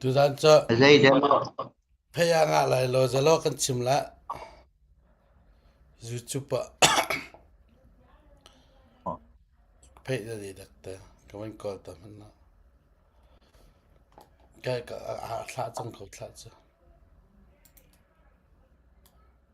Tutan cu phei ah ngah lai law zalaw kan chim lah. Zu cup ah phei na dih dak te. Ka van kawl ta hmanh lo. Kai ka a thlah cang ko thlah cu.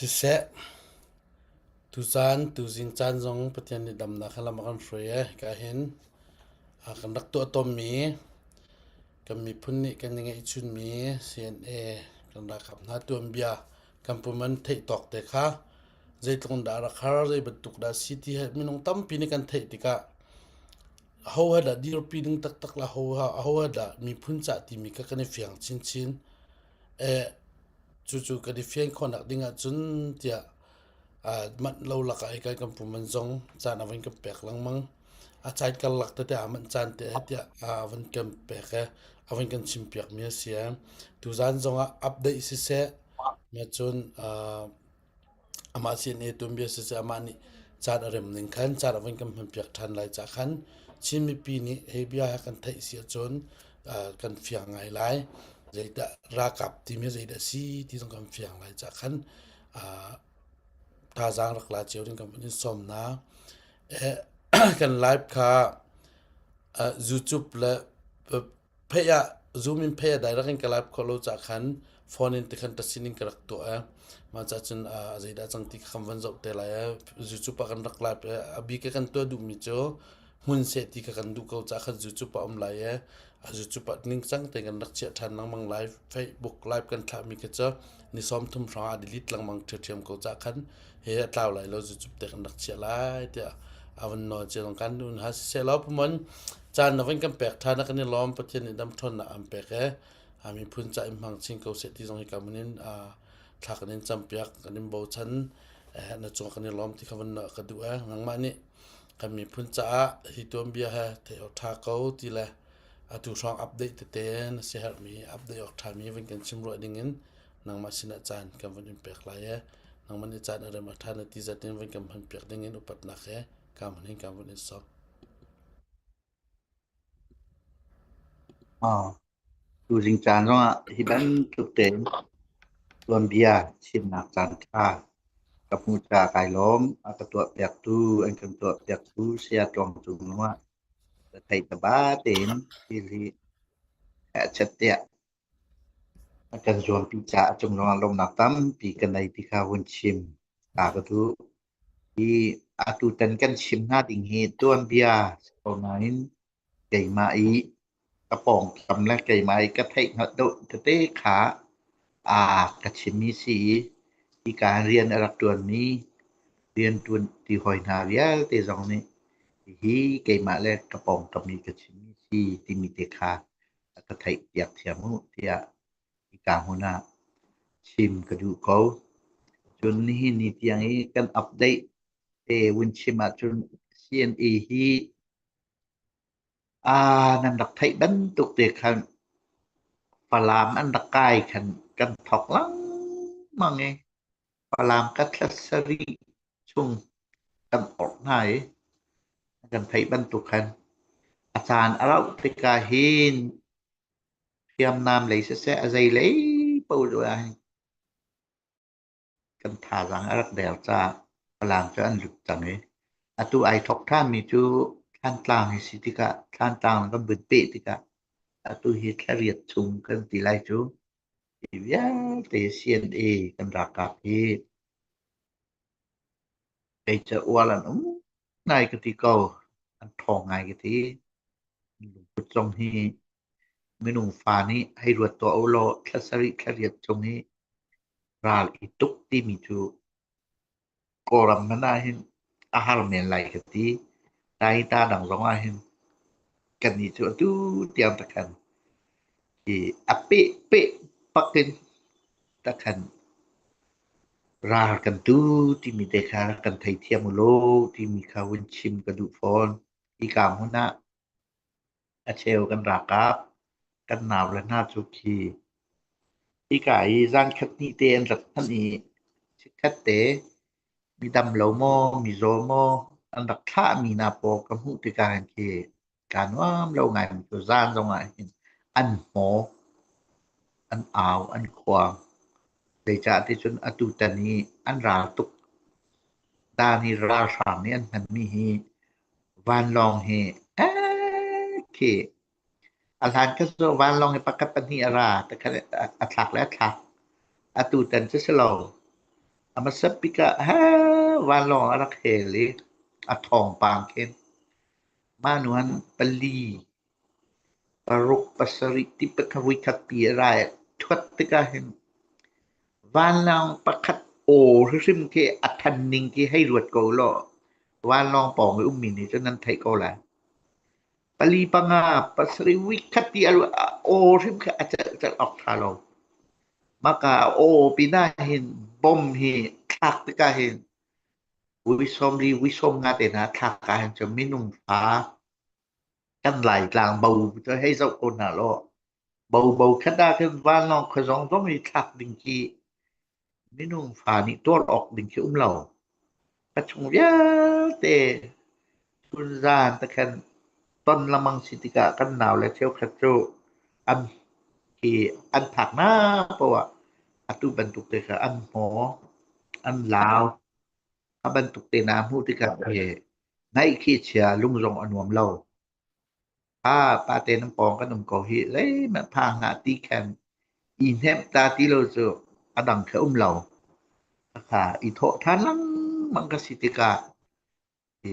Siseh, tucaan tuzing caan zong Pathian nih damnak he lam a kan hruai i ka hin kan rak tuah tawnmi kan miphun nih kan i ngeihchunmi CNA kan ralkap hna tuanbia kan pum an theih tawk te kha zeitluk in dah rak har zei bantuk dah si ti he minung tampi nih kan theih tikah ho ha dah dirpi ding taktak la ho ha a ho ha dah miphun cah timi kha kan i fiang chinchin e cucu kan i fian khawnak ding ahcun tiah manh lo lakah i kan pum an zong caan a van kan pek lengmang a caan karlak tete ah manh caan te tiah a van kan pek i a van kan chim piakmi a si i tuzaan zong ah update siseh cun amah sin i tun bia siseh amah nih caan a rem ning khan caan a van kan hman piak ṭhan lai cah khan Chin mipi nih hi bia hi kan theih si ahcun kan fiang ngai lai zeidah ralkap timi zeidah a si ti zong kan fiang lai cah khan thazaang rak la cio ding kan hun in sawm hna. kan live kha YouTube le phei ah Zoom in phei ah direct in ka live khawh lo caah khan phone in tikhan tasin in ka rak tuah e. Mah caah cun zeidah cang ti kha kan van zoh te lai e. YouTube ah kan rak live e. A bik i kan tuah duhmi cu hmun seh ti ka kan duh ko cah khan YouTube a um lai e a YouTube a ningcang te kan rak chiah than lengmang live Facebook live kan thlah mi ka cha ni som thum hrang a delete lengmang thiam ko cah khan he a tlau lai lo YouTube te kan rak chiah lai tia avan no che long kan nun ha se lo pumon chan na van kan pek thana kan ni lom pathian ni dam thon na am pek e ami phun cha im hang chin ko se ti zong hi kamunin a thla kan in champiak kan in bo chan na chung kan ni lom ti khavan na ka du e nangma ni kan miphun caah hi tuanbia he theih awk ṭha ko ti le atu hrawng update tete na si herhmi update awk ṭhami vun kan chim ruah ding in nangmah sinah caan kan vun in pek lai e nangmah nih caan a rem a ṭha na ti zat in vun kan hman piak ding in upatnak he ka hmun hin ka vun in sawm Tuzing caan zongah hi bantuk tein tuanbia chimnak caanṭha ka hmu ca kai lawm. A ka tuahpiaktu an kan tuahpiaktu Saya Tluang Cung zongah ka thei taba tein thil hi herhchat tiah a kan zuampi caah cung zongah lawmnak tampi ka nei ti kha vun chim ta ka duh. Hi atutan kan chim hna ding hi tuanbia si ko nain keimah i ka pawngkam le keimah i ka theihhngalh deuh tete kha aa ka chimmi si i hika rian a rak ṭuanmi rianṭuan ti hawi hna vialte zong nih hihi keimah le ka pawngkam i ka chimmi si timi te kha a ka theihpiak thiam u tiah Hika hmun ah chim ka duh ko. Cun nihin ni tiang i kan update te vun chim ahcun CNA hi aa nan rak theih bantuk te khan Falam an rak kai khan kan thok lengmang i Falam kathla sarih chung kan orh hna i kan theih bantuk khan a caan a rauh tikah hin Hriamnam lei siseh, a zeilei paoh ah kan thazaang a rak der caah Falam cu an lut cang i atu ai thawk ṭhanmi cu Thlantlang hi si tikah Thlantlang kan vun peh tikah atu hi thlariat chung kan ti lai cu hi vialte CNA kan ralkap hi kei cu ual an um ngai ka ti ko, an ṭhawng ngai ka ti. Lungput zong hi Minung fa nih hei ruat tuah ulaw thla sarih thla riat chung i ral i tuk timi cu Kawlram hmanh ah hin a har men lai ka ti. Nain ta dang zong ah hin kannih cu atu tiang takhan hi a peh peh bak in takhan ral kan tu timi te kha kan theithiam ulaw timi kha vun chim ka duh fawn. Hi kaam hmun ah A cheu kan raak ah kan nau le hna cu khi hika i zaankhat hnih te an rak hman i chikkhat te mi damlo maw mi zaw maw an rak thlahmi hna paw ka hmuh tikah hin khi kaa nuam lo ngaimi cu zaan zongah hin an hmaw, an au, an khuang. Zeicah ticun atu tan i an ral tuk, daan i ralhrang nih an hmanmi hi Vanlawng hi khih a hlan ka zawh vanlawng hi pakhat pahnih a ra takhat a thlak le a thlak atu tan cu si lo a hmasa bik ah vanlawng a rak hel i a thawngpang khin mah nu an pali Paruk pasarih ti patharui khatpi a ra i a thuat tikah hin vanlawng pakhat aw hrimhrim khi a than ning khi hei ruat ko ulaw vanlawng pawng i ummi nih cun an theih ko lai. Pali panga pasarih week khat ti a ruat aw hrim khi a celh celh awk ṭha lo. Maka a aw pinah hin bom hi thlak tikah hin uisawm li uisawm nga te hna thlak ah hin cun minung fa Kan Laitlang bo cu hei zoh ko hna law, bobo khat ah khin vanlawng khuazawng zong i thlak ding khi minung fa nih tuar awk ding khi um lo. A chung vialte chun zaan te khan ton lamang si tikah kan nau le cheukhat cu an hi an phak na poah atu bantuk te kha an hmaw, an lau, a bantuk te na hmuh tikah hi Hnaih khi chia lung zong a nuam lo. Ah pate nan pawng kan um ko hi zeihmanh phang hlah ti khan i hnemh ta ti lo cu a dang khi um lo. Ka i thawh than lengmang ka si tikah i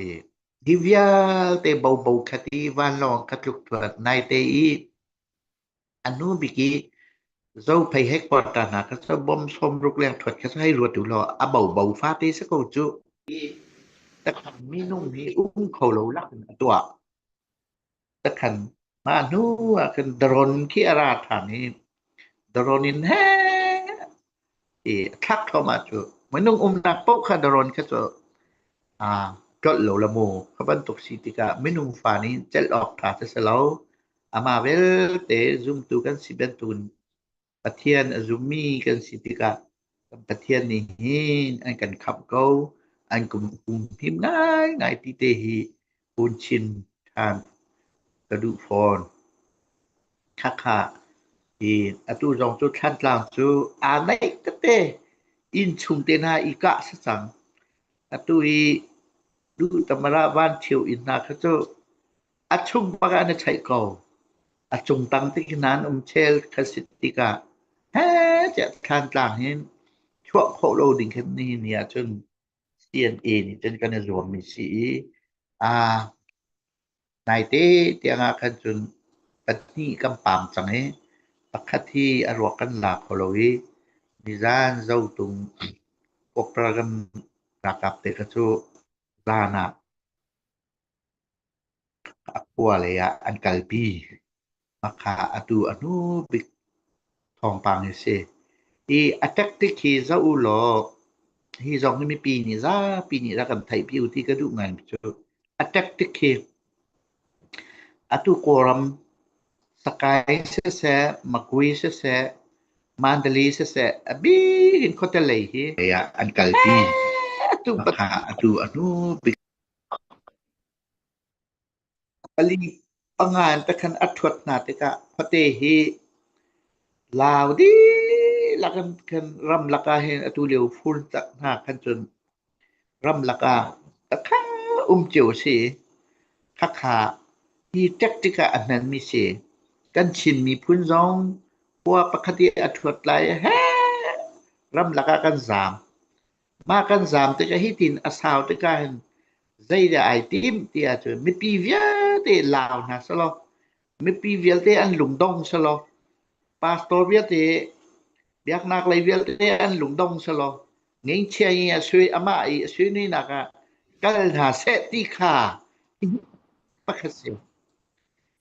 hi vialte bobo kha ti vanlawng ka tluk thuat nai te i A hnu bik i zo phei headquarter hna kha sa bawm sawm ruk leng thuat kha sa hei ruat u law a bobo fate si ko cu i takhan minung hi um kho lo lak in a tuah takhan mah hnu ah khin daron khi a ra than i daron in he i a thlak thluahmah cu minung umnak paoh kha darawn kha cu aa tlolh lo la mu. Kha bantuk si tikah minung fa nih celh awk ṭha cu si lo. Amah vialte zumtu kan si bantukin Pathian a zummi kan si tikah kan Pathian nih hin an kan khamh ko. An kum him ngaingai ti te hi Hun chin ṭhan ka duh fawn. Khakha. I atu zong cu Thlantlang cu aa naih tete. Inn chung te hna i kah si cang. Atu i Duhtamarah Vancheu inn hna kha cu a chung bak ah an i ṭhaih ko. A cung tang te khin an um chel kha si tikah, hee tiah Thlantlang hin chuah khawh lo ding khin nihin ni ahcun CNA nih cun kan i zuammi si i aa naite tiangah khan cun pahnih kan pam cang i pakhat hi a ruak kan la kho lo i nizan zotung Operation ralkap te kha cu zan ah A khua lei ah an kalpi. Hmakha atu a hnu bik thawngpang hi a si. I a tactic hi zoh u law, hi zong hi mipi nih zapi nih rak kan theih pi u ti ka duh ngai mi cu. A tactic hi atu Kawlram Sakai siseh, Magui siseh, Mandali siseh a bik in khuate lei hi lei ah an kalpi. Hmakha atu a hnu bik Pali a ngan te khan a ṭhuat hna tikah khuate hi lau dihlak in khan ram lakah hin atu lio fur cak hna khan cun ram lakah khakha um cio a si i khakha hi ṭek tikah a hmanmi a si. Kan Chin miphun zong khua pakhat i a ṭhuat lai heh ram lakah kan zaam. mah kan zaam tikah hitin a sau tikah hin zeidah ai tim ti ahcun mipi vialte lau hna selaw mipi vialte an lungdong selaw pastor vialte biaknak lei vialte an lungdong selaw ngeichia i a sui amah i a sui ninak ah kal hna seh ti kha pakhat si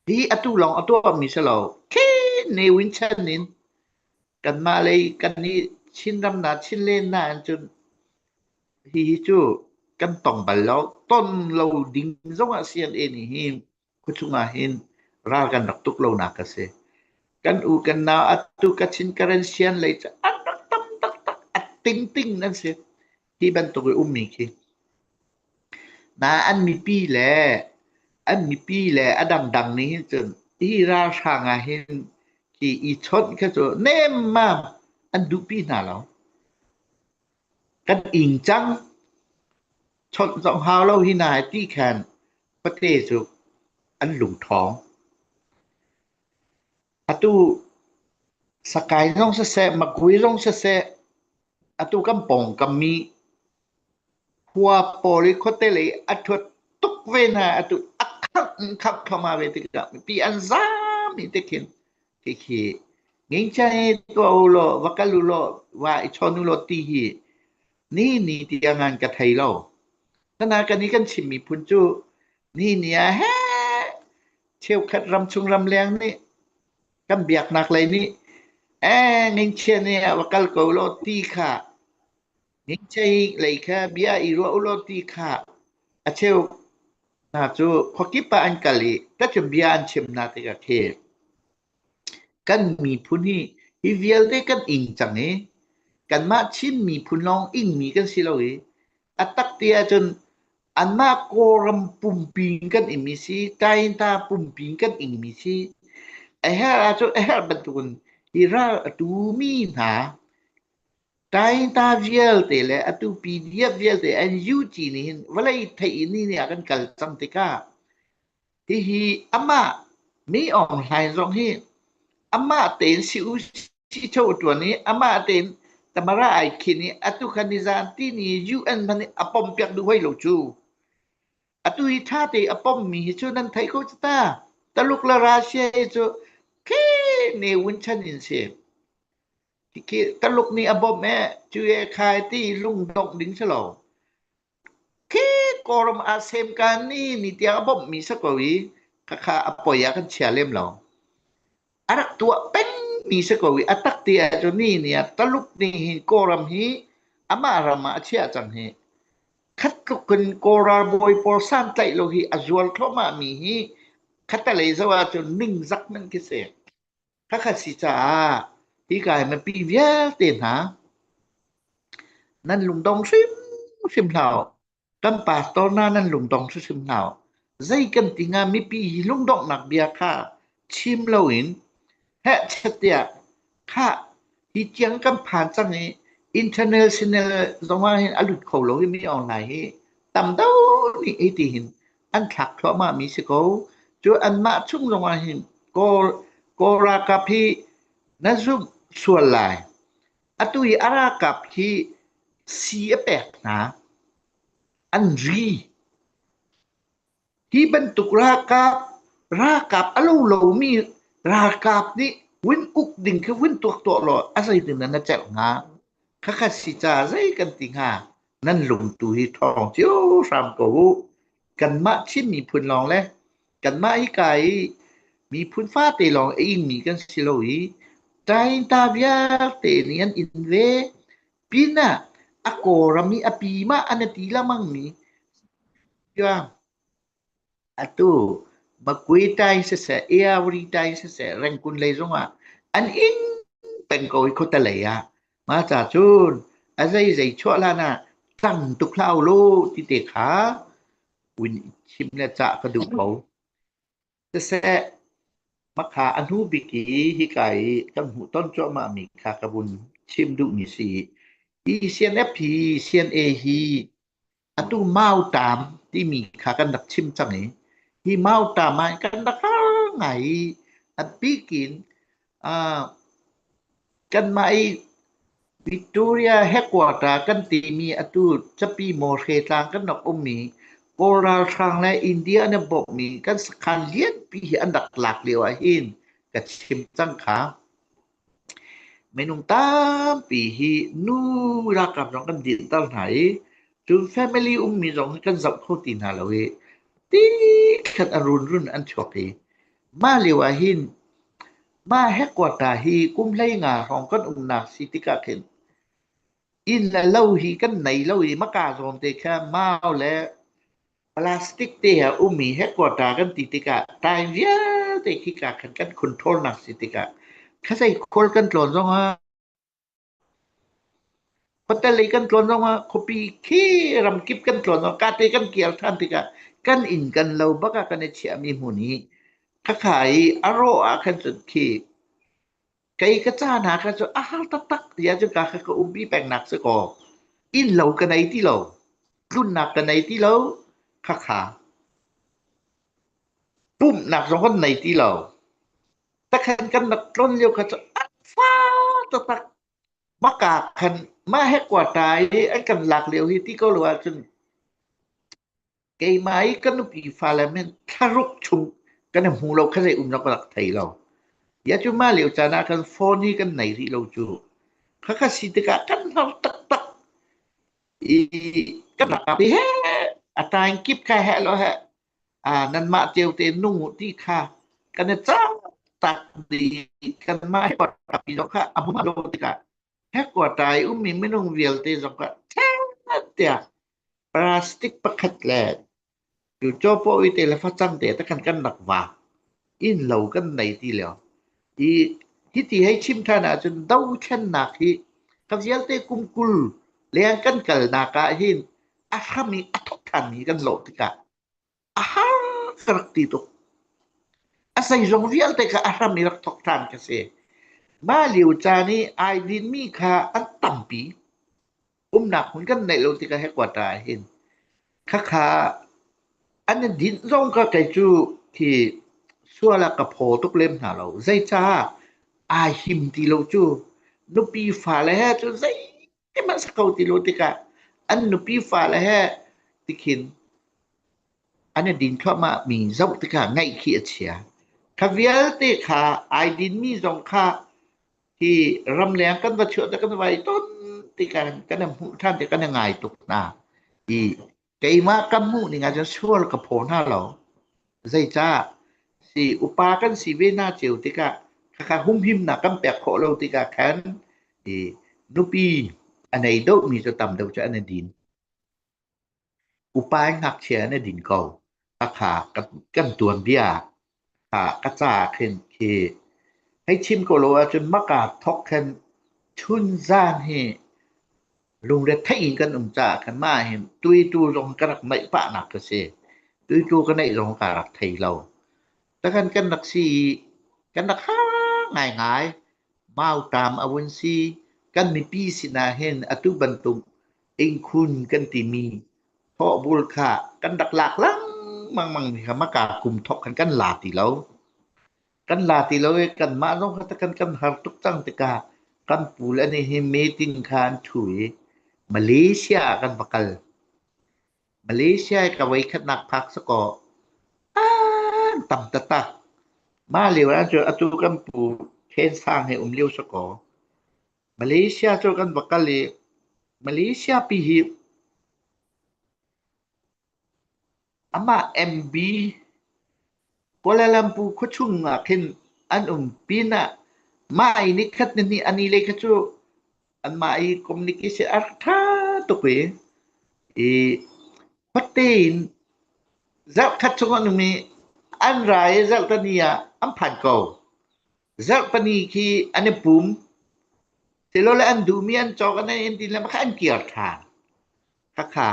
hi atu lawng a tuahmi si lo khin ne winchan in kanmah lei kan i Chinramnak Chinlennak in cun hihi cu kan tong bal lo ton lo ding zongah CNA nih hi khuachung ah hin ral kan rak tuk lonak a si kan u kan na atu ka Chin Karen Sian lei cu an rak tam taktak a ting ting an si Hi bantuk i ummi khi na an mipi le an mipi le a dangdang nih hin cun hi ralhrang ah hin ki i chawnh kha cu nemmam an duhpi hna lo. Kan ing cang chawnh zong hau lo hi na hai ti khan khuate cu an lung ṭhawng. Atu sakai zong siseh, makui zong siseh, atu kan pawngkam i khua pawl i khuate lei a thuat tuk ve hna. Atu a khangh in khangh thluahmah ve tikah mipi an zaami te khin hihi ngingchai tuah u law, va kal u law, va i chawn u law ti hi ni ni tiang an ka thei lo. Khana kan i kan chim miphun cu ni ni ah heh Cheukhat ramchung ramleng nih kan biaknak lei nih eh ngingchia nih a va kal ko law ti kha ngingchei lei kha bia i ruah u law ti kha a cheu hna cu khuakip ah an kal i tacum bia an chim hna tikah khi kan miphun hi hi vialte kan ing cang i kanmah Chin miphun lawng ingmi kan si lo i A tak ti ahcun anmah Kawlram pumpi in kan imi si, Tainta pumpi in kan ingmi si. A herh ahcun a herh bantukin hi ral a tumi hna Tainta vialte le atu PDF vialte an UG nih hin vawlei theih ni ni ah kan kal cang tikah Hihi amah Mi Aung Hlain zong hi amah tein si u sicaw a ṭuan i amah tein Tamara ai khin i atu khan ni zan tini UN man a pompiak duh hoi lo cu. Atu hi ṭha te a pommi hi cu nan theih ko cu ta. Taluk le Russia hi cu khi ne wun chan in si. Khi Taluk nih a bawmh e, cu e khai ti lung dongh ding si lo. khi Kawlram ah semkan i ni tiang a bawmhmi si ko i khakha a poi ah kan chia lem lo. A rak tuah pengmi si ko i a tak ti ahcun ni ni ah Taluk nih hi Kawlram hi amah ram ah a chiah cang hi. Khat tluk in Kawl ralbawi pawl santlaih lo hi a zual thluahmahmi hi khatalei zoh ahcun ningzak nan khi si. Pakhat si caah hika hi mipi vialte hna nan lungdong hrimhrim hlah u. Kan pastor hna nan lungdong hrimhrim hlah u. Zei kan ti hnga mipi hi lungdonghnak bia kha chim loin heh tiah khah Hi tiang kan phan cang i internet sinel zongah hin a lut kho lo i mi online hi tam deuh nih hi ti hin an thlak thluahmah mi si ko. Cu anmah chung zongah hin Kawl Kawl ralkap hi na zumh sual lai. Atu i a ralkap hi sii a pek hna, an ri. Hi bantuk ralkap, ralkap a lo lomi ralkap nih vun uk ding khi vun tuak tuah law a zeitin nan a celh hnga? Khakha si ca zei kan ti hnga? Nan lumtu hi thawng cio hram ko u. Kanmah Chin miphun lawng le kanmah hika i miphun fate lawng a ingmi kan si lo i Tainta vialte nih an in ve. Pinah a kawram i a pim ah an a ti lengmang mi Atu bakui tai siseh, iawri tai siseh, rengkun lei zongah an ing peng ko i khawta lei ah. Ma ca cun, a zei zei chuah hlan ah tang tuk hlau lo ti te kha un chim le cah ka duh ko. Siseh, makha anu biki hika i kan hmuh ton cuahmah mi kha ka vun chim duh mi si. I CNF hi CNA hi Atu Mauṭam timi kha kan rak chim cang i hi Mauṭam ah kan rak har ngai i a bik in uh, kanmah i Victoria headquarter kan timi atu Capi Mawr Hre Tlang kan rak um i Kawl ralhrang le India an i bawmhmi kan sakhan lianpi hi an rak lak lio ahhin ka chim cang kha. Minung tampi hi nu ralkap zong kan dinhter hna i cun family ummi zong hi kan zoh kho ti hna lo i tikhat a runrun an chuak i mah lio ahhin mah headquarter hi kum hleinga hrawng kan umnak si tikah khin inn le lo hi kan nei lo i mah ka zawn te kha mau le Plastic te ah ummi headquarter kan ti tikah time vialte khika khan kan controlnak si tikah khatsei khual kan tlawn zongah hotel i kan tlawn zongah khuapi khi ramkip kan tlawn zong kate kan kial than tikah kan inn kan lo bakah kan i chiahmi hmun hi khakha i a rawh ah khan cun khi Kei ka ca hna kha cu a har taktak tiah cuka kha ka umpi pengnak si kaw innlo ka nei ti lo, tlunnak ka nei ti lo, khakha pumhnak zong kan nei ti lo. Takhan kan rak tlon lio kha cu a fa taktak maka khan mah he kwa ta i an kan lak lio hi ti ko lo ahcun keimah i kan upi fale min thlaruk chung kan i hmu lo kha zei um lo ka rak thei lo. Ya cu mah lio caan ah kan phone i kan nei rih lo cu. Khakha si tikah kan hnar taktak. I kan rak api he, atain kip kha he lo he, ah nan mah teo te nung u ti kha kan i cang tak di kan mah he pat api lo kha amu lo tikah he kuatai ummi minung vialte zong kha ṭha tiah Plastic pakhat le tucaw poh i teile facang te te khan kan rak vak. Innlo kan nei ti lio. I hiti hei chim ṭhan ahcun dothlennak hi ka vialte kum kul leng kan kalnak ahhin a hram i a thawk ṭhan hi kan lawh tikah a har ka rak ti tuk. A zeizong vialte kha a hram i rak thawk ṭhan ka si. Mah lio caan i ai dinmi kha an tampi. Umnak hmun kan neih lo tikah hi kua ṭa ah hin. Khakha an i dinh zong ka kei cu hi sual ah ka phaw tuk lem hna lo. Zeicah ai him ti lo cu. Nupi fale he cu zei Ihmanh ko ti lo tikah an nupi fale he tikhin an i din thluahmah mi zoh tikah ngaih khi a chia. Kha vialte kha ai dinmi zong kha hi ramleng kan va chuah te kan vai ton tikah kan hmuh than ti kan ngai tuk hna i Keimah ka hmuhning ahcun sual ka phaw hna lo. Zeicah? Si upa kan si ve hna cio tikah khakha humhimnak kan pek khawh lo tikah khan i nupi a nei deuhmi cu tam deuh cu an i din. Upa i ngakchia an i din ko. Khakha kan, kan tuanbia Tha ka ca khin khi hei chim ko law ahcun hmaka thawk khin chunzan hi lungretheih in kan um caah khin mah hin tuitu zong ka rak naih pahnak ka si. Tuitu ka neih zong kaa rak thei lo. Takan kan rak si i kan rak ha ngaingai. Mau tam a vun si. Kan mipi sinah hin atu bantuk Innkhun kan timi thawhbul kha kan rak lak lengmang mi kha maka kum thawk khan kan la ti lo. Kan la ti lo i kanmah zong kha kan kan har tuk cang tikah kan pu le nih hi meeting kha an thu i Malaysia ah kan va kal. Malaysia i ka voi khatnak phak sakaw an tam tata. Mah lio ah cu atu kan pu Khen Sang he um lio sakaw Malaysia cu kan va kal i Malaysia pi hi amah MB Kuala Lumpur khuachung ah khin an um pin ah mah i ni khat ni hnih a ni lei kha cu anmah i communication a rak ṭha tuk i i khuate in zarh khat chung an um i an ra i zarh hnih ah an phan ko. Zarh pahnih khi an i pum. Tilole an duhmi an cawk an ei ti le makha an kir ṭhan. Khakha.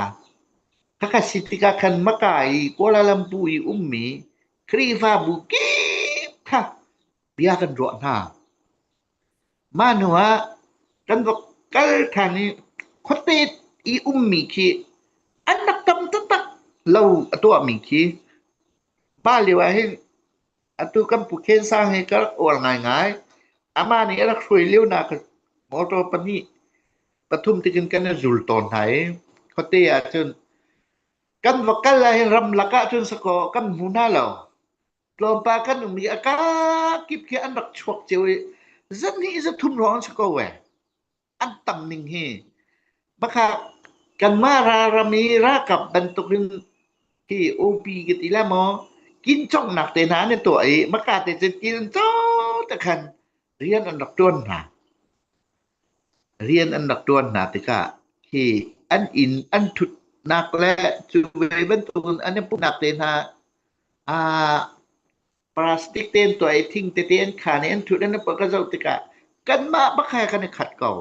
Khakha si tikah khan Maka i Kuala Lumpur i ummi Khrihfabu kip kha bia kan ruah hna. Mah hnuah kan va kal ṭhan i khuate i ummi khi an rak tam taktak lo a tuahmi khi pa lio ah hin Atu kan pu Khen Sang hi ka rak uar ngaingai. Amah nih a rak hruai lionak kha motor pahnih pathum tikin kan i zul tawn hna i khuate ah cun kan va kal ahhin ramlak ah cun sakaw kan hmu hna lo. Tlawmpal kan um i a kakip khi an rak chuak cio i zat hnih zat thum hrawng an si ko ee. an tam ning hi bakah kanmah ralram i ralkap bantukin hi upi ka ti le maw kin chonghnak te hna an i tuah i maka te cu kin co te khan rian an rak tuan hna rian an rak tuan hna tikah hi an in an thutnak le cu ve bantukin an i puhnak te hna a Plastic tein tuah i thing tete an khan i an thut an pa ka zoh tikah kanmah bakha kan i khat ko.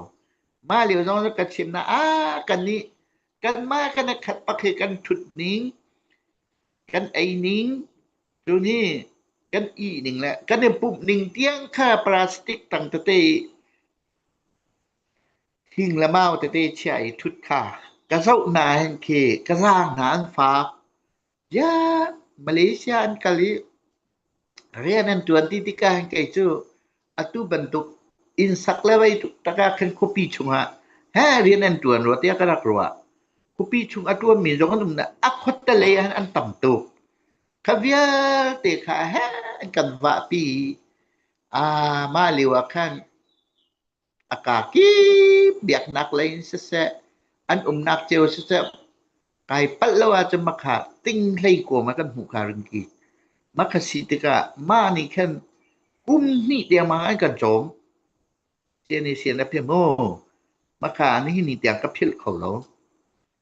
Mah lio zong cu kan chim na ah kan nih kanmah kan i khat pak hi kan thut ning kan ei ning cu ni kan i ning le kan i pumh ning tiang kha plastic tang tete i thing le mau tete chiah i thut kha ka zoh hna hin khi ka zaang hna an faak. Bia Malaysia an kal i rian an ṭuan ti tikah hin kei cu atu bantuk inn sak le mei ṭaka khin khuapi chungah heh rian an ṭuan rua tiah ka rak ruah. Khuapi chung a ṭuanmi zong an um na a khuattale ah an tam tuk. Kha vialte kha heh an kan vahpi i, a mah lio ah khan a ka kip biaknak lei in siseh, an umnak cio siseh, kai palh lo ahcun ma kha ting hlei kuam ah kan hmuh kha ring ki. Ma kha si tikah mah nih khan kum hnih tiangmang an kan cawm. Sian i sian a phim mu. Ma kha ni ni tiang ka philh kho lo.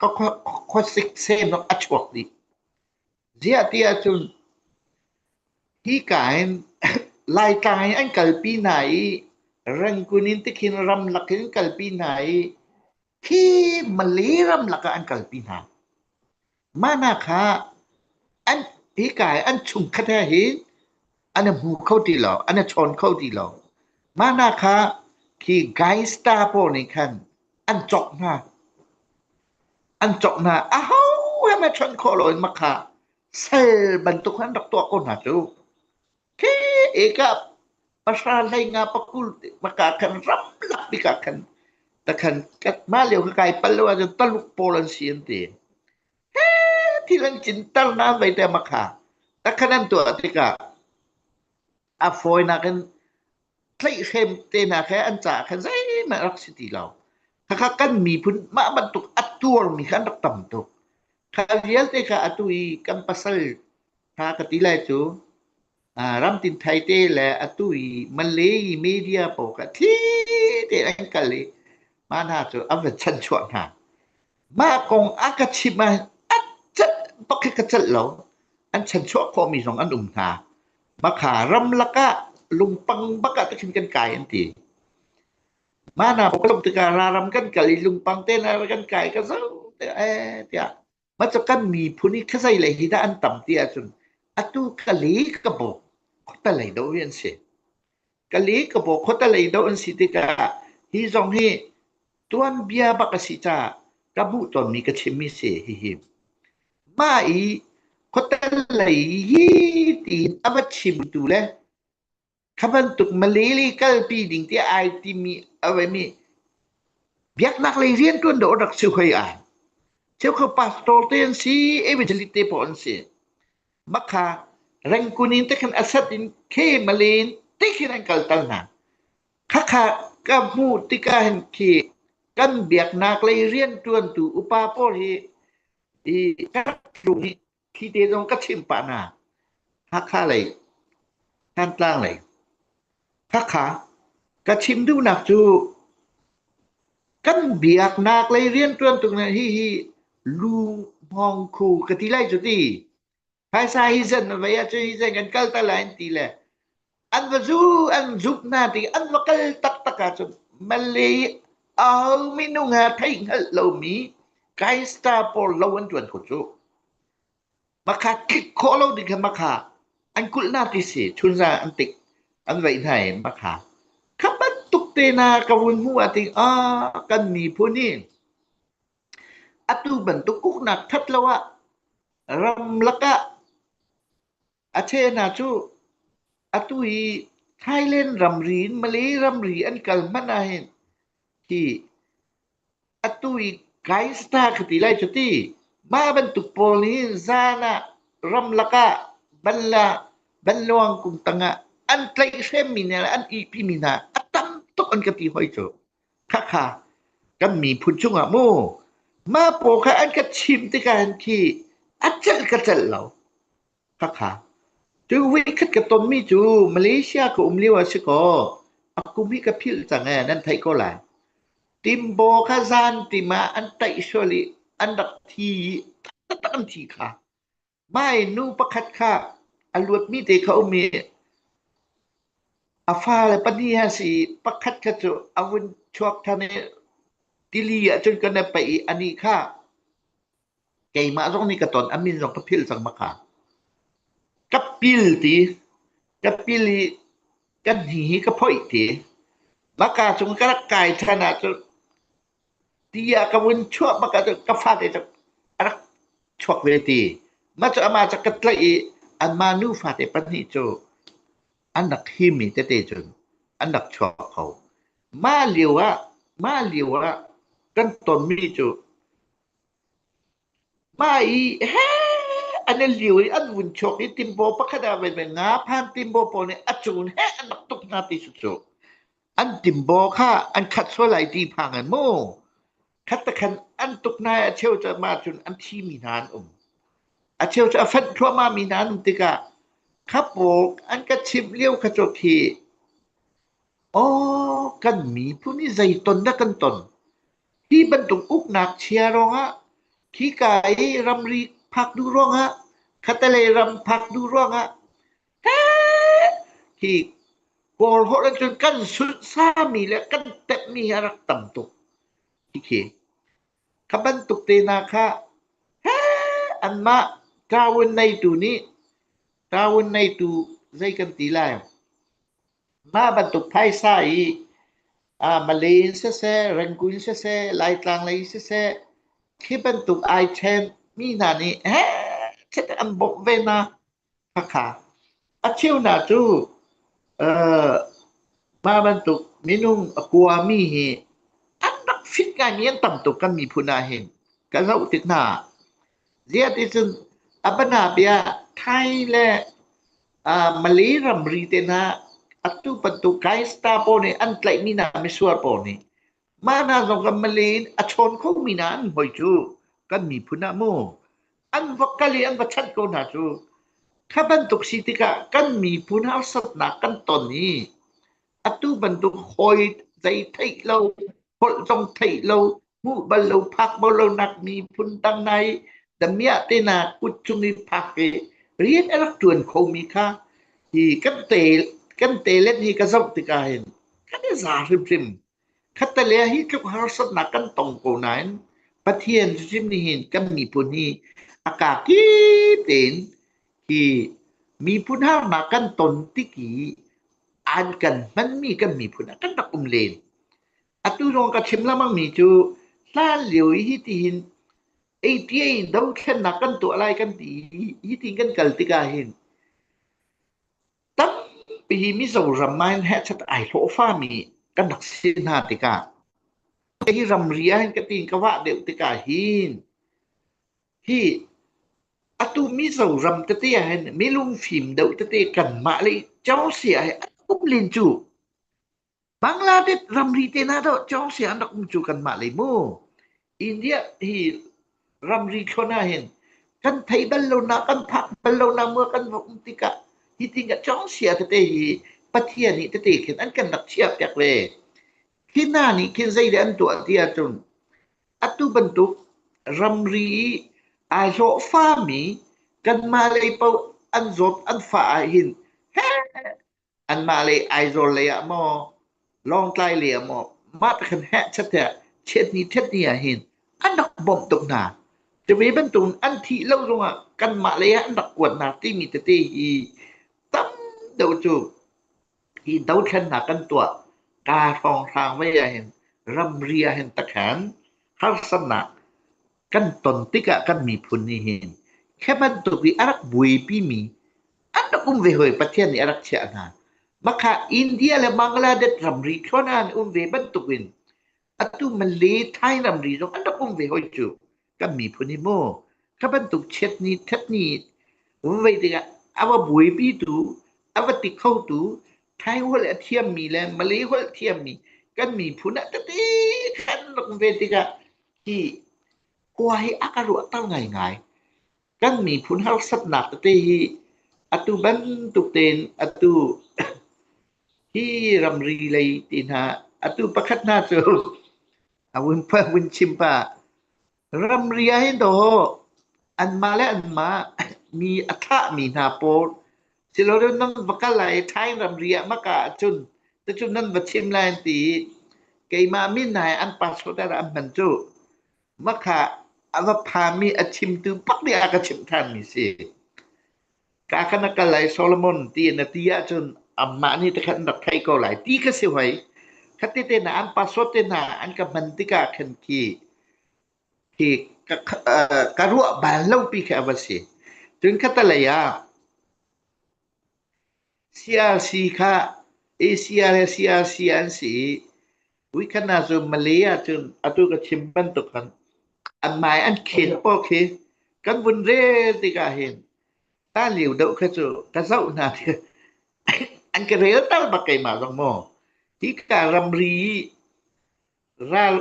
ka khuasik sem ah a chuak dih. Ziah ti ahcun hi ka hin Laitlang in an kalpi hna i Rangoon in tikhin ramlak in kalpi hna i khi Malay ramlak ah an kalpi hna. Mah hna kha an hi ka an chungkhat he hin an na hmu kho ti lo, an na chawn kho ti lo. Mah hna kha khi gangster pawl nih khan an cawk hna. An cawk hna, a ho he ma chawnh khawh lo in mah kha sal bantuk an rak tuah ko hna cu. Khi ekap pasra hlei nga pakul maka khan ram lak bikah khan ta khan kat ma leo ka kai pal lo ahcun taluk pawl an si an ti. Thil an tlinter nain zeiti a mak hnga. Takhat an tuah tikah a fawinak in tlaihhrem tenak he an caah khan zeihmanh a rak si ti lo. Khakha kan miphun mah bantuk a tuarmi kha an rak tam tuk. Kha vialte kha atu i kan pasal ṭha ka ti lai cu ramtin thaite le atu i Malay media pawl kha thli tein an kal i mah hna cu an va chanchuah hna. Mah kong a ka chimh ah a cat pakhat ka celh lo. An chanchuah khawhmi zong an um hna. Makha ramlak ah lungpang bak ah takin kan kai an ti. Mah hna pawl ka tuk tikah raram kan kal i lungpang tein kan kai ka zo tiah eh tiah Mah kan miphun i khuazei lei hi dah an tam ti ahcun atu ka li ka bo khota lei do hi an si ka li ka bo khota lei do an si tikah hi zong hi tuanbia bak a si caah ka buh tonmi ka chimmi si hihi mah i khota lei hi tiin a va chimtu le Kha bantuk Malay kalpi ding tiah ai timi a vemi biaknak lei rian ṭuan dawh rak si hoi ai. Cheu kha pastor te an si, evangelist te pawh an si. Makha rengkun in te khan asat in khe malen te khin an kal tal hna. Khakha ka hmu tika hen khi kan biaknak lei rian ṭuantu upa pawl hi i kan tlung hi Phi te zong ka chimh pah hna. Hakha lei, Thantlang lei. Hakha ka chim duhnak cu kan biaknak lei riantuan tuk na hi hi lu hmawng khu ka ti lai cu ti. Phaisa hi zan vai ah cu hi zan kan kal ta lai an ti le An va zu an zumh hna tiin an va kal taktak ahcun Malay au minung ha thei hngalh lomi Kaista pawl lo an ṭuan kho cu. Makha tlik khawh lo ding kha makha an kulh hna ti si chunza an tik an vaih hna i makha kha bantuk tena ka vun hmuh ah ting ah kan miphun hi atu bantuk uknak that lo ah ram lakah A cheh hna cuh! Atu hi Thailand ramri in Malay ramri an kal hmanh ahhin hi atu hi Kainsta ka ti lai cu ti. Mah bantuk pawl hi zan ah ramlak ah balla banluang kum tangah an tlaih hremmi hna le an ihpimi hna a tam tuk an ka ti hoi cu. Khakha kan miphun chungah mu Mapaw kha an ka chimh tikah khi a celh ka celh lo. Khakha cu voikhat ka tonmi cu Malaysia ka um lio ah si kaw a kum hi ka philh cang ee nan theih ko lai. Timbo kha zan tim ah an taih sual i an rak thi i taktak an thi kha Bai nu pakhat kha a luatmi te kha um i a fale pahnih an si i pakhat kha cu a vun chuak ṭhan i tili ahcun ka na paih i anih kha keimah zong nih ka ton a min zong ka philh cang baka ka pil ti ka pil i ka hni hi ka phoih ti baka cung ka rak kai ṭhan ahcun Ti ah ka vun chuah bak ahcun ka fate cu a rak chuak ve ti. Mah cu amah cu ka tlaih i anmah nu fate pahnih cu an rak him i tete cun an rak chuak kho. Mah lio ah, mah lio ah kan tonmi cu Pa i heh an i liu i an vun chuak i timbaw pakhat ah menmen nga phan timbaw pawl nih a cung in heh an rak tuk hna ti cu cu an timbaw kha an khat sual lai ti phang in mu khat takhan an tuk hna i a cheu cu mah cun an thimi hna an um a cheu cu a fanh thluahmah mi hna an um tikah kha pawl an ka chimh lio kha cu khi aw kan miphun hi zei ton dah kan ton Hi bantuk uknak chia ruangah khika i ramri phak duh ruangah, khatalei ram phak duh ruangah hi Kawl holh in cun kan sunhsami le kan temhmi hi a rak tam tuk khikhi. Kha bantuk te hna kha anmah taawun neitu nih, taawun neitu zei kan ti lai? Mah bantuk phaisa hi aa Malay in siseh, Rangoon siseh, Laitlang lei siseh, khi bantuk ai ṭhen mi hna nih hehchet an bawmh ve hna. Khakha. A cheu hna cu aa mah bantuk minung a kua mi hi an rak fit ngaimi an tam tuk kan miphun ahhin ka zoh tik hna ah. Ziah ticun a bana bia Thai le uh, Malay ramri te na atu bantuk Gaista po nih an tlaihmi na misuar po nih mah na zong kan Malay in a chawn kho mi na an hoi cu kan miphun ah mu an va kali an va chanh ko hna cu kha bantuk si tikah kan miphun harsatnak kan ton i atu bantuk hoi zei theih lo holh tong thei lo hmuh bal lo phak bal lo nak mi phun dang nai damiah te na kut chung i phak i rian a rak tuan kho mi kha hi kan te kan te let hi ka zoh tika hin kan i za hrim hrim khatalea hi tluk harsat na kan tong ko nain pathian hrim ni hin kan mi pun hi akaki tein hi miphun harnak kan ton tik i an kan hmanmi kan miphun ah kan rak um len. Atu zong ka chim lamangmi cu hlan lio i hi tihin 88 dothlennak kan tuah lai kan ti hi ti kan kal tikah hin tampi Mizoram ah hin hechat ai hlawhfami kan rak si hna tikah hi ramri ah hin ka tin ka wah deuh tikah hin Hi atu Mizoram tete ahhin milungfim deuh tete kanmah le Cawnsia he an um len cu Bangladesh ramri tehna dawh Cawnsia an rak um cu kanmah lei mu. India hi ramri thlawn ahhin kan thei bal lonak, kan phak bal lonak mu kan va um tikah hi tingah Cawnsia tete hi Pathian nih tete khin an kan rak chiah piak ve. Khi hna nih khin zei le an tuah ti ahcun Atu bantuk ramri i aa hlawhfami kanmah lei paoh an zawt an fah ahhin anmah lei Aizawl lei ah maw Lawngtlai lei ah maw mah pakhat heh chateh chiatni ṭhatni ahhin an rak bawmh tuk hna. Cuve bantukin an thih lo zongah kanmah lei ah an rak kuatnak timi tete hi tam deuh cu Hi dothlennak kan tuah kaa hrawnghrang vei ahhin ramri ahhin takhan harsatnak kan ton tikah kan miphun nihhin khi bantuk i a rak buaipimi an rak um ve hawi Pathian nih a rak chiah hna. Makha India le Bangladesh ramri thlawn ah an um ve bantukin atu Malay Thai ramri zong an rak um ve hoi cu. kan miphun hi maw kha bantuk chiatni ṭhatni vei tikah a va buaipitu a va ti khotu Thai holh a thiammi le Malay holh thiammi kan miphun ah tete kan rak ve tikah hi kua hi a ka ruahter ngaingai kan miphun harsatnak tete hi atu bantuk tein atu hi ramri lei ti hna atu pakhat hna cu a vun pa vun chim pa ramri ah hin do an mah le an mah mi a thah mi hna pawl silo reu nan va kal lai thai ramri ah maka cun te cun nan va chim lai an ti keimah min nai an passport an man cu maka a va phami a chimtu pak nih a ka chim than mi si ka khan a kal lai Solomon ti na ti ahcun amah nih te khan rak theih ko lai ti ka si hoi khati te hna an passport te hna an ka hman tikah khan khi khi ka, ka ruah bal lopi khi a va si cun khatalei ah CRC kha ACR le CRC an si i Weekend ah cu Mali ahcun atu ka chim bantuk khan an mai an khen pawk hi kan vun rel tikah hin ta liu deuh kha cu ka zoh hna an ka rel tal bak keimah zong maw hi ka ramri ral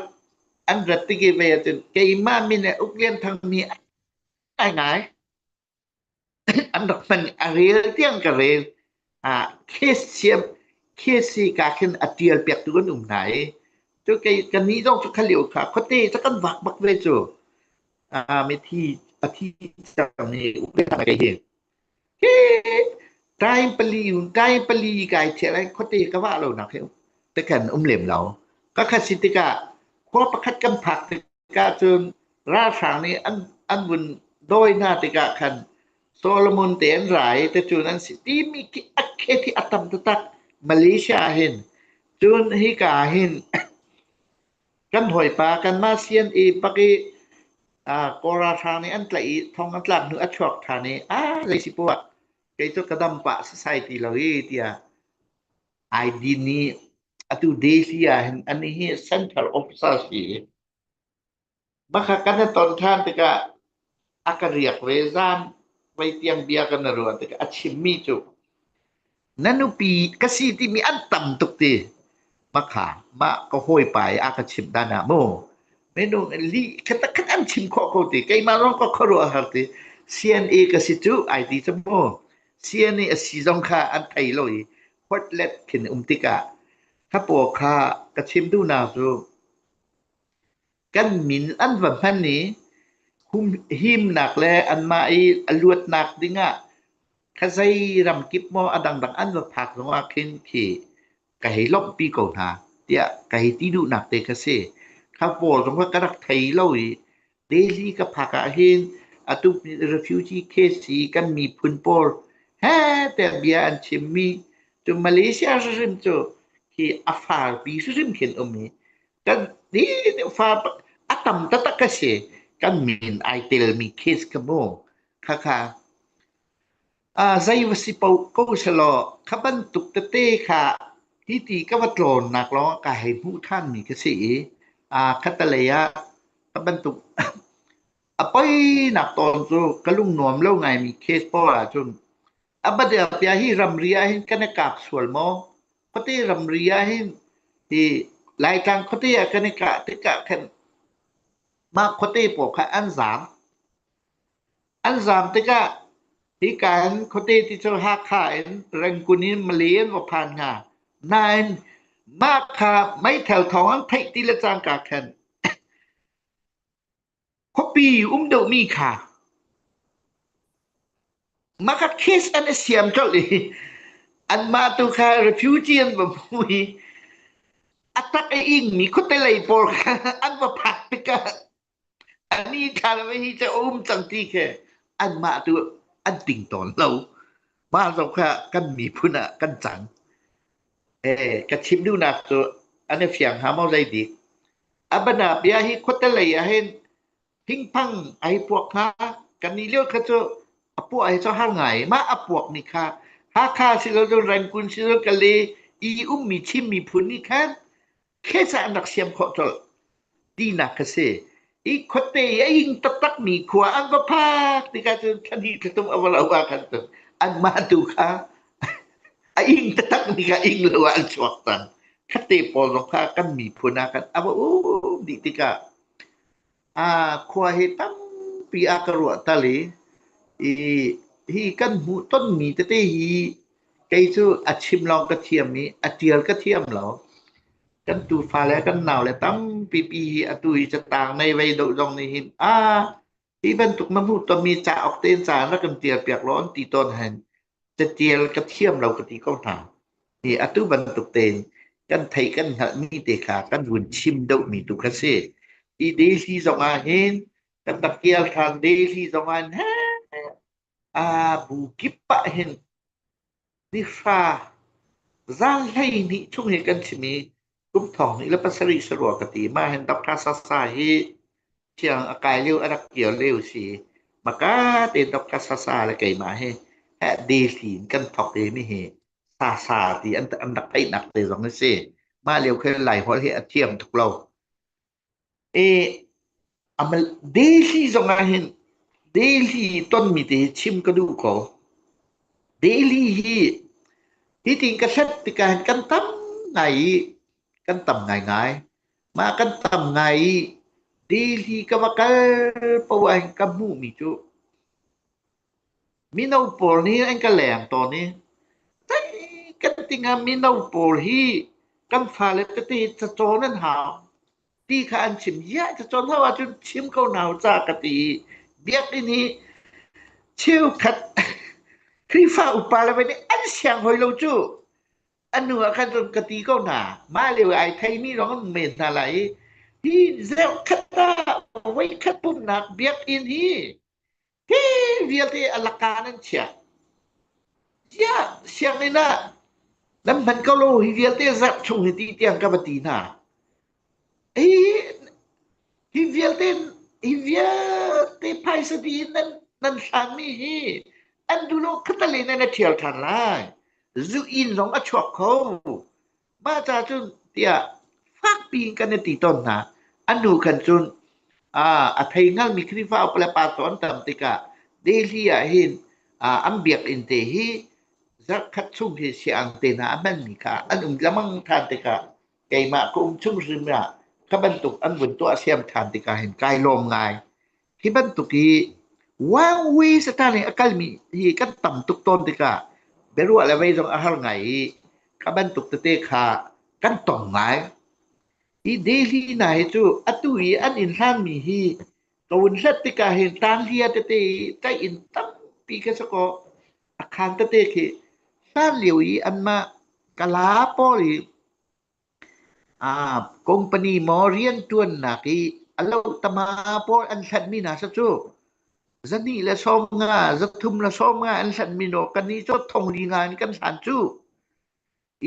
an rat tiki ve ahcun keimah min ah Uk Lian Thang mi ai ngai. a rel tiang ka rel. Ah khesi ka khin a tial piak tu kan um hna i cu kei ka ni zong cu khalio kha khuate ca kan vak bak ve cu mi thi a thi cang i upet hna kei hi hi kai pali kai pali kai thial ai khuate ka wa lo nak hi te khan um lem lo ka khat si tikah khua pakhat kan phak Cun ralhrang nih an vun dawi hna tikah khan Solomon te an ra i cun an si timi khi a khet hi a tam taktak Malaysia ah hin cun hika ah hin kan hawipa kanmah sian i bak i kaw ralhrang nih an tlaih i thong an tlak hnu a chuak ṭhan i a zei si poah kei cu ka dam pah sasai ti lo i tiah ID nih atu Delhi ah hin ani hi central officer si bakha kan na ton than tikah a ka riak ve zan vai tiang bia kan na ruan tikah a chim mi cu nanupi ka si ti mi an tam tuk ti bakha ma ka hoi pai a ka chim dan ah mu minung li khata khan an chim kho ko ti keimah rong ka kharuah har ti CNA ka si cu IT cu mu Sia nih a si zong kha an ei lo i khuatlet khin um tikah ka paw kha ka chim duhnak cu kan min an va hman i himnak le anmah i a luatnak dingah ka zei ram kip maw a dangdang an va phak zongah khin khi ka hei lawmhpi ko hna tiah ka hei ti duhnak te ka si kha pawl zong ka rak thei lo i delhi ka phak ah hin atu refugee case hi kan miphun pawl he te bia an chimmi cu malaysia hrim cu khi a farpi hrim khin um i kan ni fa a tam taktak ka si kan min ai telmi case ka mu khakha Zei va si poh ko selaw kha bantuk tete kha hiti ka va tlawnnak lawngah ka hei hmuh ṭhanmi ka si i khatalei ah ka bantuk a poinak tawn cu ka lungnuam lo ngaimi case pawl ahcun a Badelpia hi ramri ahhin kan i kap sual maw? Khuate ramri ahhin hi Laitlang khuate ah kan i kah tikah khan mah khuate pawl kha an zaam. An zaang tikah hika in khuate ti cu Hakha in Rangoon in Malay an va phan hnga. Nain mah kha meithal thawng an theih ti le cangka khan khuapi um deuhmi kha makhat case an i siam colh i anmah tu kha refugee an va hmu i a tak i ingmi khuatelei pawl kha an va phak tikah Ani thlarabe hi cu a um cang ti khi anmah tu an ting tawn lo. Mah zong kha kan miphun ah kan cang. Eh, ka chim duhnak cu an i fiang hnga maw zei dik? A bana bia hi khuatelei ah hin thingphang a hi puak hnga. Kan nih lio kha cu a puah hi cu har ngai. Mah a puak ni kha Hakha si lo cun Rangoon si lo cun Kale i ummi Chin miphun nih khan Khesa an rak siam khawh colh tinak ka si. I khuate i a ing taktakmi khua an va phak tikah cun thlahnih thlatum a va lo ah khan cun an mah tu kha a ing taktak tikah ing lo ah an chuak tan. Khatte pawl zong kha kan miphun ah khan a va um dih tikah Aa khua hi tampi a ka ruahter i i hi kan hmuh tonmi tete hi kei cu a chim lawng ka thiam i a ṭial ka thiam lo. Kan tufa le kan naule tampipi hi atu hi catang nei vei deuh zong nih hin a hi bantuk na hmuh tonmi cauk tein ca na kan ṭial piak law an ti tawn hen. Catial ka thiam lo ka ti ko hna. Hi atu bantuk tein kan theih kan hngalhmi te kha kan vun chim deuhmi tu kha si. Hi daily zong ah hin kan tatial than daily zong ah ne a bu kip ah hin ni hra zan hlei ni chung hi kan chim i Kum thong hnih le pasarih sarua ka ti. Mah hin Dr. Sasa hi thiang a kai lio a rak kir lio si. Maka tein Dr. Sasa le keimah hi eh, deli in kan thok i mi hi Sasa ti an, an rak theihnak te zong a si. Mah lio khin Lai holh hi a thiam tuk lo. E, a mal Delhi zong ah hin Delhi tonmi te hi chim ka duh ko. Delhi hi hi tin ka hlat tikah hin kan tam ngai i kan tam ngaingai. Mah kan tam ngai i Delhi ka va kal poah hin ka hmuhmi cu Mino pawl nih an ka leng tawn i tei kan ti hnga mino pawl hi kan fale tete cacawn an hau ti kha an chim ziah cacawn lo ahcun chim ko hna u ca ka ti i biakinn i cheukhat Khrihfa upa le nih an siang hoi lo cu a hnu ah khan cun ka ti ko hna mah lio i ai theimi zong an um men hna lai i hi zeukhat ah voikhat pumhnak biakinn hi Tin vialte a laka nan chia. Tia sianginn ah nan hman ko lo hi vialte zarh chung hi ti tiang ka va ti hna. Ei hi vialte hi vialte phaisa ti in nan nan hlanmi hi an dulo khatale nan a ṭhial ṭhan lai. Zu in zong a chuak kho. mah ca cun tiah fak piin kan i ti tawn hna. An hnu khan cun aa a thei hngalmi Khrihfa upa le pastor an tam tikah Delhi ah hin aa an biakinn te hi zarhkhat chung hi siang te hna a hmanmi kha an um lengmang ṭhan tikah keimah ka um chung hrim ah ka bantuk an vun tuah siam ṭhan tikah hin kai lawm ngai. Hi bantuk i Wang Wei Satan nih a kalmi hi kan tam tuk tawn tikah biaruah le vei zong a har ngai i ka bantuk tete kha kan tong ngai. Hi Delhi hna hi cu atu i an in hlanmi hi ka vun hlat tikah hin tanghlia tete i tlaih in tampi ka sa kaw a khaan tete khi hlan lio i anmah kala pawl i Company maw rianṭuannak i a lohttama pawl an hlanh mi hna sa cu zahnih le sawm nga, zathum le sawm nga an hlanh mi naw kannih cu thongri nga in kan hlan cu.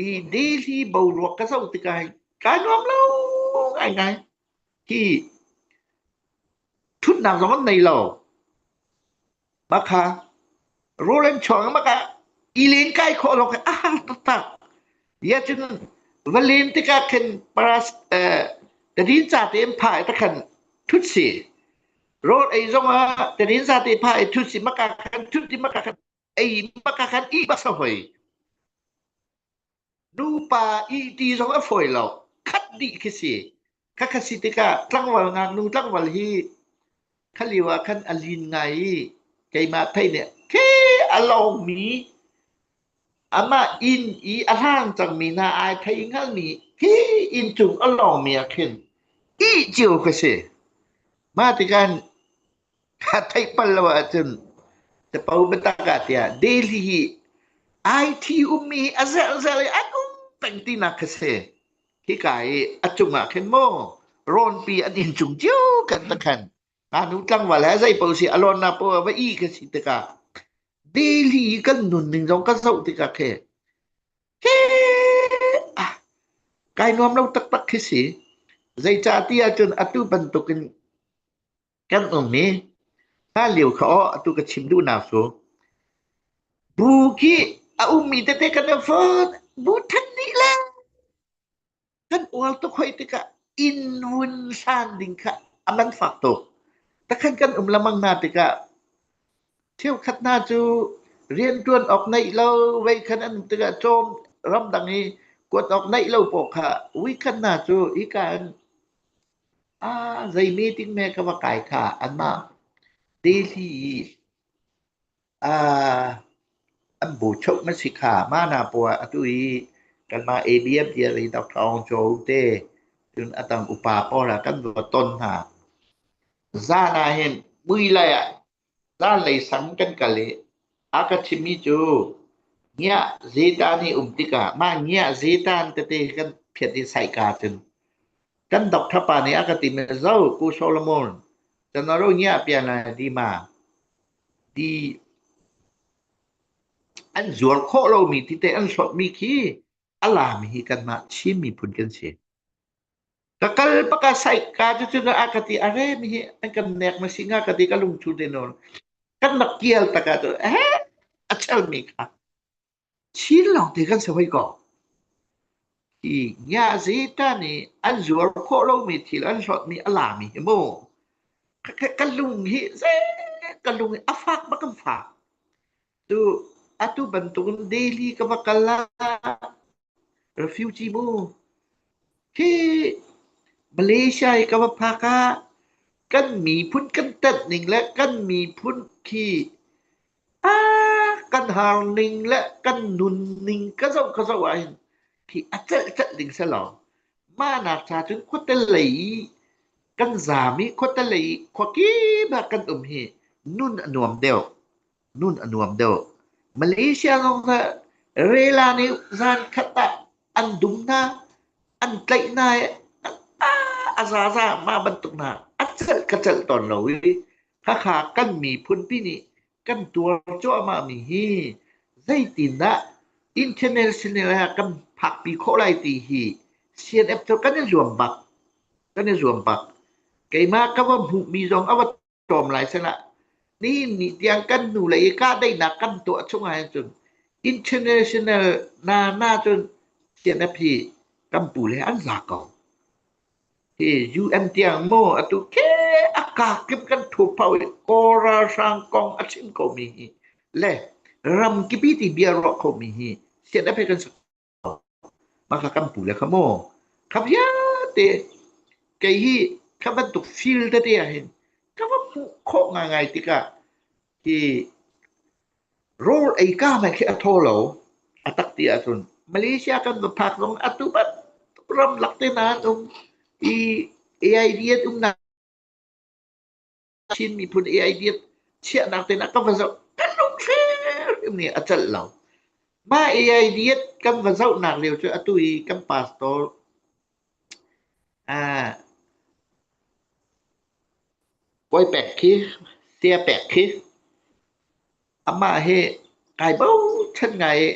I daily boruak ka zoh tikah kai nuam lo ngaingai. Hi ṭhutnak zong an nei lo. Maka Roland chuang maka ilen kai khawh lo a hang taktak ya cun va len tikah khin paras tadin ca te pha ai takhan thut si road ei zong ah tadin sa te pha ai thut si maka khan thut ti maka khan ei maka khan i basa hoi Nupa ihti zong a fawi lo. Khat dih khi si. Khat khat si tikah tlangval ngaknu tlangval hi khalio ah khan a lin ngai i keimah pei nih khi a lawngmi amah inn i a hlang cangmi hna ai thei hngalmi hi inncung a lawngmi ah khin ih cio khi si. Mah tikah Kha theih pal lo ahcun capo biatak ah tiah Delhi hi IT ummi a zelzel i an um peng tinak kha si. Hika i a cungah khin maw rawnpi an in cung cio kan ta khan ngaknu tlangval he zei paoh si a lawnnak paoh a va i ka si tikah Delhi i kan nun ning zong ka zoh tikah khi he ah kai nuam lo taktak khi si zeicah ti ahcun atu bantukin Kan ummi hlanlio kha aw atu ka chim duhnak cu bu khi a ummi tete kan rak vot bu than nih le kan uar tuk hoi tikah inn hun san ding kha a man fak tuk takhan kan um lamang na tikah cheukhat hna cu riantuan awk neih lo vei khan an tikah cawm ramdang i kuat awk neih lo paoh kha ui khan hna cu hika in Ah, zei meeting meh ka va kai kha anmah Delhi i ah an bu cheuh na si kha mah hna puah atu i kanmah ABFDLE.com cu te cun a dang upa pawl ah kan va ton hna. Zan ah hin mui lei ah Zanlei sang kan kal i a ka chimhmi cu ngiah zetan i um tikah mah ngiah zetan tete kan phiat i saihka cun kan doctor pa nih a ka tim i Zo Pu Solomon cun na ro ngiah pian lai di ma ti an zuar khawh lomi ti teh an hlawtmi khi a laam hi kanmah Chin miphun kan si. Ka kal bak a saih ka cucun a ka ti are mihi an kan nek na si hnga ka ti ka lungthu te nawn kan rak kial taka tu eh a chal mi kha chin lawng te kan sawai ko hi nya zi ta nih an zuar khawh lomi thil an hlawtmi a lami hi mu ka, ka, ka lung hi ze ka lung hi a fak bak kan fak Atu bantukin daily ka va kal ah refugee mu. Khi Malaysia i ka va phak ah kan miphun kan tat ning le kan miphun khi a kan har ning le kan nun ning ka zoh ka zoh ahhin khi a celh celh ding si lo. Mah nak ca cun khuate lei i kan zam i khuate lei i khuakip ah kan um hi nun a nuam deuh. Nun a nuam deuh. Malaysia zong cu rela nih zankhat ah an dum hna, an tlaih hna i a zaza mah bantuk hna a celh ka celh tawn lo i Hakha kan miphunpi nih kan tuar cuahmahmi hi zeitindah international ah kan phakpi khawh lai ti hi CNF cu kan i zuam bak, kan i zuam bak. Keimah ka va hmuhmi zong a va tlawm lai sinah ni ni tiang kan hnu lei i kahdaihnak kan tuah chung ah cun international na na cun CNFP kan pu le an la ko hi UN tiang mo atu ke aka kim kan thu phau i kora sang kong a chin ko mi hi le ram kipi ti bia ro kho mi hi CNFP kan Mah hla kan pu le kha maw kha vialte kei hi kha bantuk feel tete ah hin ka va hmuh khawh ngaingai tikah hi rawl ei ka mai khi a thaw lo. A tak ti ahcun Malaysia kan va phak zong atu bantuk ramlak te nan um i AI an um na. Chin miphun AIDF chiahnak tein a ka va zoh ka lungthrim nih a celh lo. Mah AIDF kan va zohnak lio cu atu i kan pastor ah Kawi Pek khi Sia Pek khi amah hi kai bochan ngai i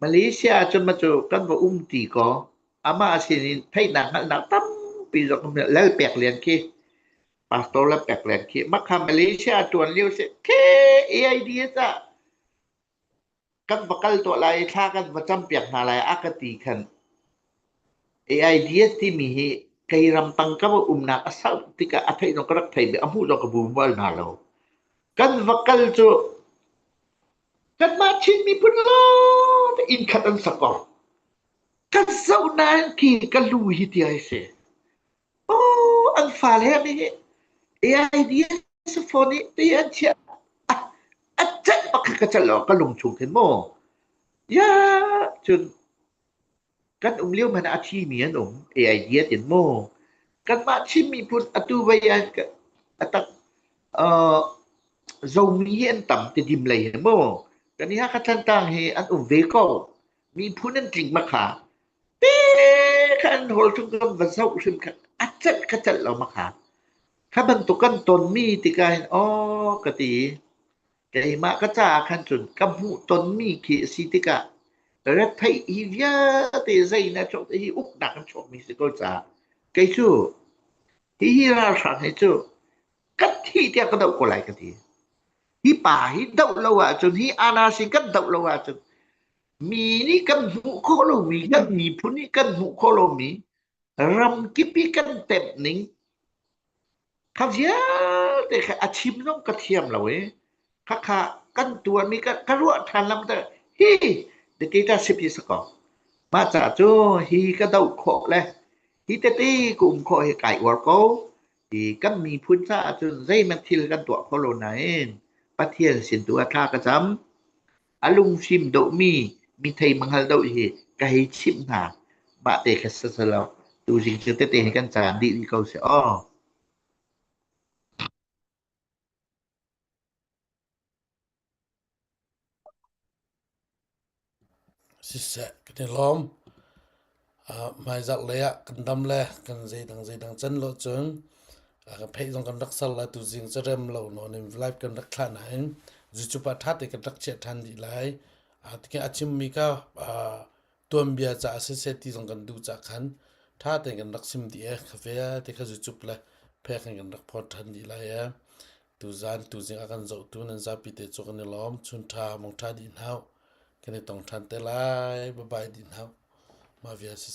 Malaysia cun ma cu kan va um ti kaw amah sin in theihnak hngalhnak tampi zong lal pek lian khi pastor le peklen khi makha malaysia tuan lio si khi AIDS ah kan va kal tuah lai i thla kan va cam piak hna lai a ka ti khan AIDS timi hi kei ram tang ka va umnak a sau tikah a theih zong ka rak thei mi a hmuh zong ka bu bal hna lo kan va kal cu kan mah chin miphun lawng inn khat an sak ko ka zoh nain ki ka lu hi ti ai si Aw, an fale nih AIDS phone i ti an chiah. A celh pakhat ka celh lo, ka lung chung khin maw. Ya, cun kan um lio hmanh ah a thimi an um, AIDS in maw. Kanmah Chin miphun atu vei ah a tak uh, zomi hi an tam ti dim lei hi maw. Kan i Hakha Tlantlang hi an um ve ko. Miphun an tling mak ha. Te kha an hawl chung cun va zoh hrim kha a celh ka celh lo mak ha. Kha bantuk kan tonmi tikah hin aw ka ti i keimah ka caah khan cun ka hmuh tonmi khi a si tikah retheih hi vialte zei na cawk hi uknak in chuakmi si ko caah kei cu hihi ralhrang hi cu ka thih tiah ka doh ko lai ka ti. Hi pa hi doh lo ahcun, hi Anas hi kan doh lo ahcun, mi nih kan hmuh khawh lomi, kan miphun nih kan hmuh khawh lomi, ram kip i kan temh ning, kha vialte kha a chim zong ka thiam lo i, khakha kan tuan i ka, ka ruah ṭhan lam te, hi, de kei ta sip hi sakaw. Mah ca cu hi ka doh khawh le, hi tete ka um khawh hi kai uar ko. Hi kan miphun caah cun zeihmanh thil kan tuah kho lo nain Pathian sin tu ah thla ka cam. A lungfim deuhmi mi thei mangal deuh hi ka hei chimh hna. Mah te kha si silo tuzing cu tete hi kan caan dih dih ko seh aw. Siseh kan i lawm. hmaizarh lei ah kan dam le kan zeidang zeidang can lo cun kan theih zong kan rak ser lai. Tuzing cu rem lo nawn in live kan rak thlah nain cucu pa ṭha te kan rak chiah ṭhan dih lai. Tikhe a chimmi kha tuanbia caah siseh ti zong kan duh cah khan ṭha tein kan rak sim dih ee. Khafe ah te kha cucup le phek in kan rak phawt ṭhan dih lai ee. Tuzaan tuzing a kan zohtu nan zapi te cu kan i lawm. Chun ṭha, mong ṭha dih hna u. Kan i tong ṭhan te lai. Bye bye dih hna u. Mah vial siseh.